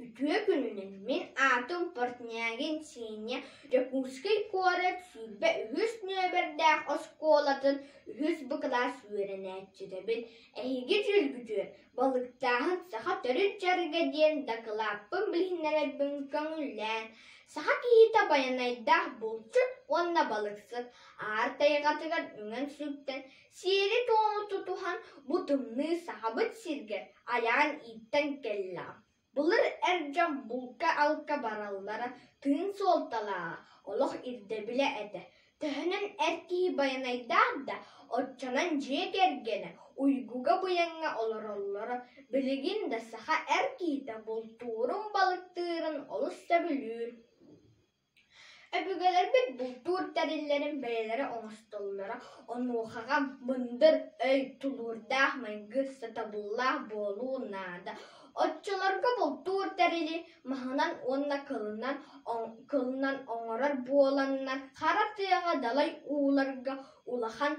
Үтүө күнүнэн мин аатым Портнягин Сиэнньэ Дьокуускай куорат сүүрбэ үһүс нүөмэрдээх оскуолатын үһүс б кылаас үөрэнээччитэбин, эһиги дьүүлгүтүө, балыктааһын саха төрүт дьарыга диэн дакылааппын билиһиннэрэрбин көҥүллээн, саха киһитэ байанайдаах булчут уонна балыксыт, аар тайҕатыгар үҥэн сүктэн Сиэри-туому тутуһан бу тымныы сахабыт сиргэ айаан ииттэн кэллэҕэ, былыр эр дьон булка-алка бараллара тыын суолталааҕа, олох ирдэбилэ этэ. Төһөнөн эр киһи байанайдаах да, оччонон дьиэ кэргэнэ уйгуга-буйаҥҥа олороллоро билигин да саха эр киһитэ бултуурун-балыктыырын олус сөбүлүүр Өбүгэлэрбит бултуур тэриллэрин бэйэлэрэ оҥостоллоро, онуохаҕа мындыр өй, тулуурдаах майгы, сатабыллаах буолуу наада. Оччолорго бултуур тэрили маһынан уонна кылынан кылынан оҥорор буоланнар, хара тыаҕа далай ууларга улахан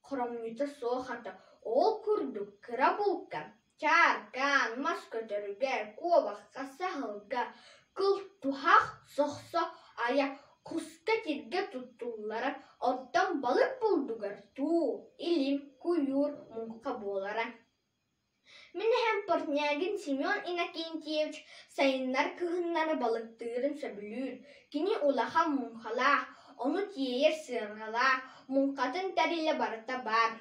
Хромуйта суох ата ол курдук кыра булка, чааркаан, мас көтөрүгэр, куобахха, саһылга, кыл туһах, сохсо айа, куска тиргэ туттуллара оттон балык булдугар туу, илим, куйуур муҥха буолара Мин эһэм Портнягин Семен Иннокентьевич сайыннар кыһыннары балыктыырын сөбүлүүр, кини улахан муҥхалаах, ону тиэйэр сыарҕалаах, муҥхатын тэрилэ барыта баар.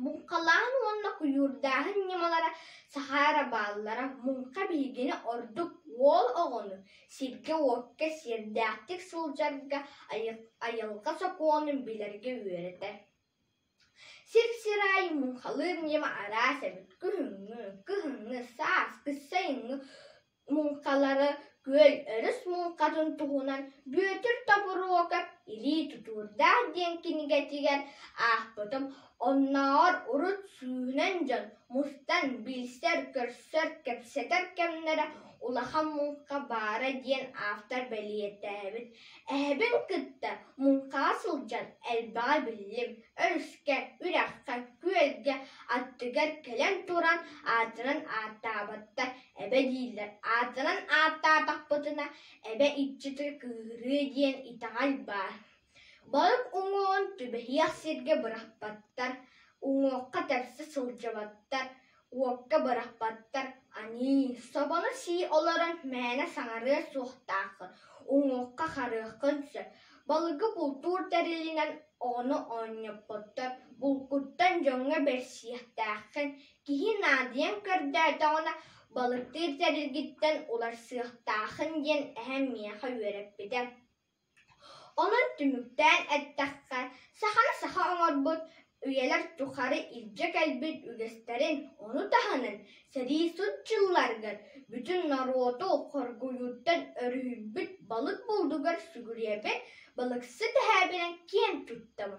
Муҥхалааһын уонна куйуурдааһын ньымалара саха эрэ бааллара муҥха биһигини ордук уол оҕону, сиргэ-уокка сиэрдээхтик сылдьарга, айылҕа сокуонун билэргэ үөрэтэр. Сир-сир аайы муҥхалыыр ньыма араас эбит: кыһыҥҥы, кыһыҥҥы, сааскы, сайыҥҥы муҥхалары күөл өрүс муҥхатын туһунан Бүөтүр Тобуруокап «Илии тутуурдаах» диэн кинигэтигэр аахпытым. Оннооҕор урут сүүнэн дьон мустан билсэр-көрсөр, кэпсэтэр кэмнэрэ улахан муҥха баара диэн автор бэлиэтээбит. Эһэбин кытта муҥхаҕа сылдьан элбэҕи биллим, өрүскэ, үрэххэ, күөлгэ, аттыгар кэлэн туран аатыран ааттаабаттар эбэ дииллэр. Аатыран ааттаатахпытына эбэ иччитэ кыыһырыа диэн итэҕэл баар. Балык уҥуоҕун түбэһиэх сиргэ бырахпаттар, уҥуохха тэпсэ сылдьыбаттар. уокка бырахпаттар аньыы, собону сии олорон мээнэ саҥарыа суохтааххын, уҥуохха-харыаххын сөп, балыгы бултуур тэрилинэн оҕону оонньоппоттор, булкуттан дьоҥҥо бэрсиэхтээххин, киһи наадыйан көрдөөтөҕүнэ балыктыыр тэрилгиттэн уларсыахтааххын диэн эһэм миэхэ үөрэппитэ Ону түмүктээн эттэххэ, саханы саха оҥорбут үйэлэр тухары илдьэ кэлбит үгэстэрин, ону таһынан сэрии сут дьылларыгар бүтүн норуоту хоргуйууттан өрүһүйбүт балык булдугар сүгүрүйэбин, балыксыт эһээбинэн киэн туттабын